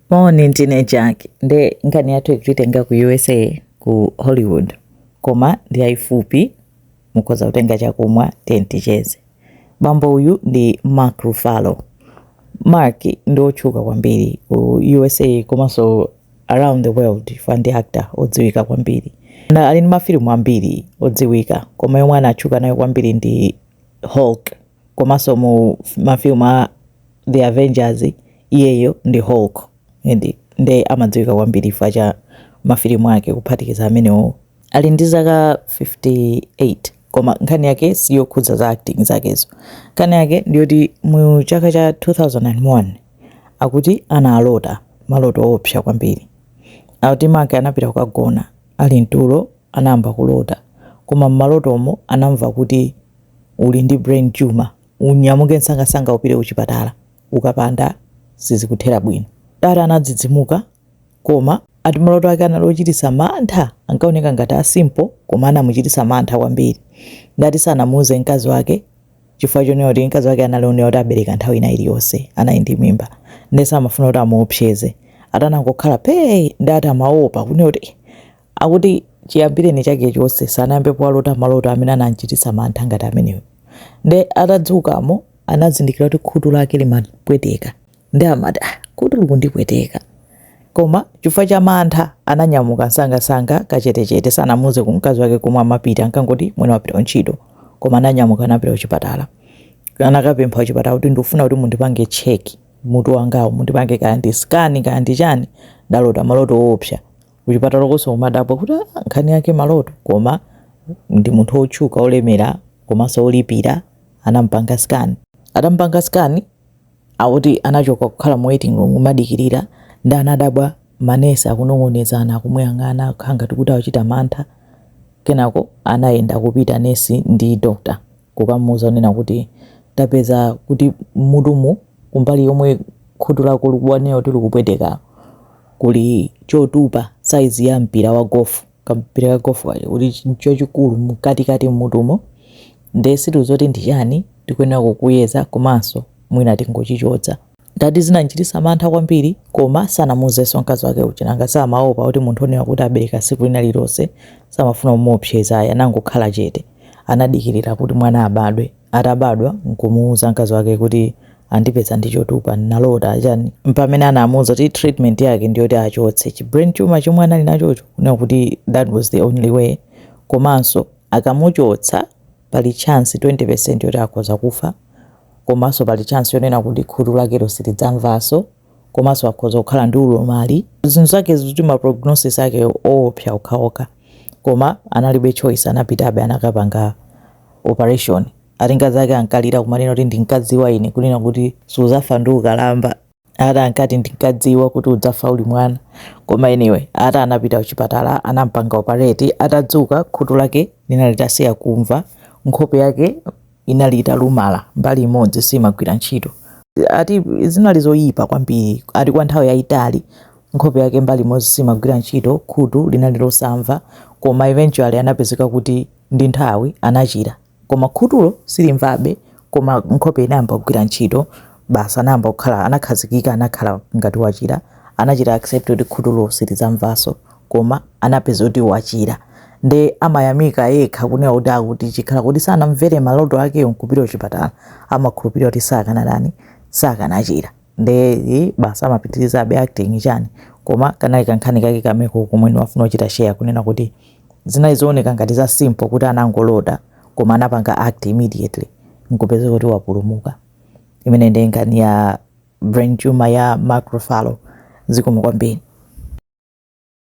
Moni ndine Jack nde nkhani yathu ikutenga ku USA ku Hollywood koma ndi yayifupi mukhoza kutenga chakumwa ticheze. Bambo uyu ndi Mark Ruffalo. Mark ndi otchuka kwambiri ku USA komanso around the world chifukwa ndi actor odziwika kwambiri. Na ali ndi mafilimu ambiri odziwika koma yomwe anatchuka nayo kwambiri ndi Hulk. komanso mu mafilimu a the avengers iyeyo ndi hulk edi nde amadziwika kwambiri chifukwa cha mafilimu ake kuphatikiza amenewo ali ndi zaka 58 koma nkhani yake siyokhudza za acting zakezo nkhani yake ndiyoti mu chaka cha 2001 akuti analota maloto oopsa kwambiri akuti Mark anapita kukagona ali mtulo anayamba kulota koma mmalotomo anamva kuti uli ndi brain tumor unyamuke nsangasanga upite kuchipatala ukapanda sizikuthera bwino. Ndiye anadzidzimuka koma ati maloto ake anali ochitisa mantha ankaoneka ngati a simple koma anamuchitisa mantha kwambiri ndati sanamuuze mkazi wake chifukwa chonena kuti mkazi wake anali onena kuti abereka nthawi ina iliyonse anali ndi mimba nde samafuna kuti amuopseze atanangokhala pee ndati amaopa kunena kuti Akuti chiyambireni chake chonse sanayambepo walota maloto amene anam'chititsa mantha ngati amenewo. Ndiye atadzukamo anazindikira kuti khutu lake limapweteka. Ndiye amati, ah, khutu likundipweteka. Koma chifukwa cha mantha ananyamuka msangamsanga kachetechete, sanamuuze mkazi wake komwe amapita, ankangoti mwina wapita kuntchito. Koma ananyamuka anapita kuchipatala. Anakapempha kuchipatala kuti ndikufuna kuti mundipange check mutu wangawu, mundipange kaya ndi scan kaya ndi chani, ndalota maloto oopsa. kuchipatalakonso kumadabwa kuti "Ah, nkhani yake maloto koma ndi munthu wotchuka olemera komanso olipira anampanga scan atampanga scan akuti anachoka kukhala mu waiting room kumadikirira ndi anadabwa manesi akunong'onezana akumuyang'ana kukhala ngati kuti akuchita mantha kenako anayenda kupita nesi ndi doctor kukamuuza kunena kuti tapeza kuti mmutumu kumbali yomwe khutu lako ukunena kuti likupweteka kuli chotupa size ya mpira wa golf kampira ka golf kaja kuti chochikulu mkatikati mmutumo nde sitidziwa kuti ndi chani tikuyenera kukuyeza komanso mwina tingochichotsa Ndati zinamchitisa mantha kwambiri koma sanamuuzeso mkazi wake uja nanga si amaopa kuti munthu onena kuti abeleka siku lina lilose samafuna kumuopseza ayi anangokhala chete anadikilila kuti mwana abadwe atabadwa nkumuuza mkazi wake kuti andipeza ndi chotupa nnalota chani mpamene anamuuza kuti treatment yake ndiyoti achotse chi brain tumor chomwe anali nachocho kunena kuti that was the only way komanso akamuchotsa Pali chance 20% yoti akhoza kufa komanso pali chance yonena kuti khutu lakelo silidzamvanso komanso akhoza kukhala ndi ulumali zinthu zake zikuti ma prognosis ake oopsa okhaokha koma analibe choice anapitabe anakapanga operation ati akazi ake ankalira kumanena kuti ndinkadziwa ine kunena kuti suzafa ndi ukalamba ata ankati ndinkadziwa kuti udzafa uli mwana koma anyway ata anapita kuchipatala anampanga operate atadzuka khutu lake linali litasiya kumva nkhope yake inali italumala mbali imodzi simagwira ntchito ati zinali zoyipa kwambiri ati kwa nthawi yayitali nkhope yake mbali imodzi simagwira ntchito khutu linali losamva koma eventually anapezeka kuti ndi nthawi anachira Koma khutulo silimvabe, koma nkhope inayamba kugwira ntchito, basi anayamba kukhala, anakhazikika, anakhala ngati wachira, anachita accept kuti khutulo silidzamvanso, koma anapeza kuti wachira. Nde amayamika yekha kunena kuti akuti chikhala kuti sanamvere maloto akewo nkupita kuchipatala, amakhulupirira kuti sakanatani, sakanachira. Nde eh, basi amapitirizabe acting chani. Koma kanali kankhani kake kameko komwe ndimafuna kuchita share kunena kuti, Zinali zooneka ngati za simple kuti anangolota koma anapanga act immediately nkupezeka kuti wapulumuka. Imeneyi ndiye nkhani ya brain tumor ya Mark Ruffalo. Zikomo kwambiri.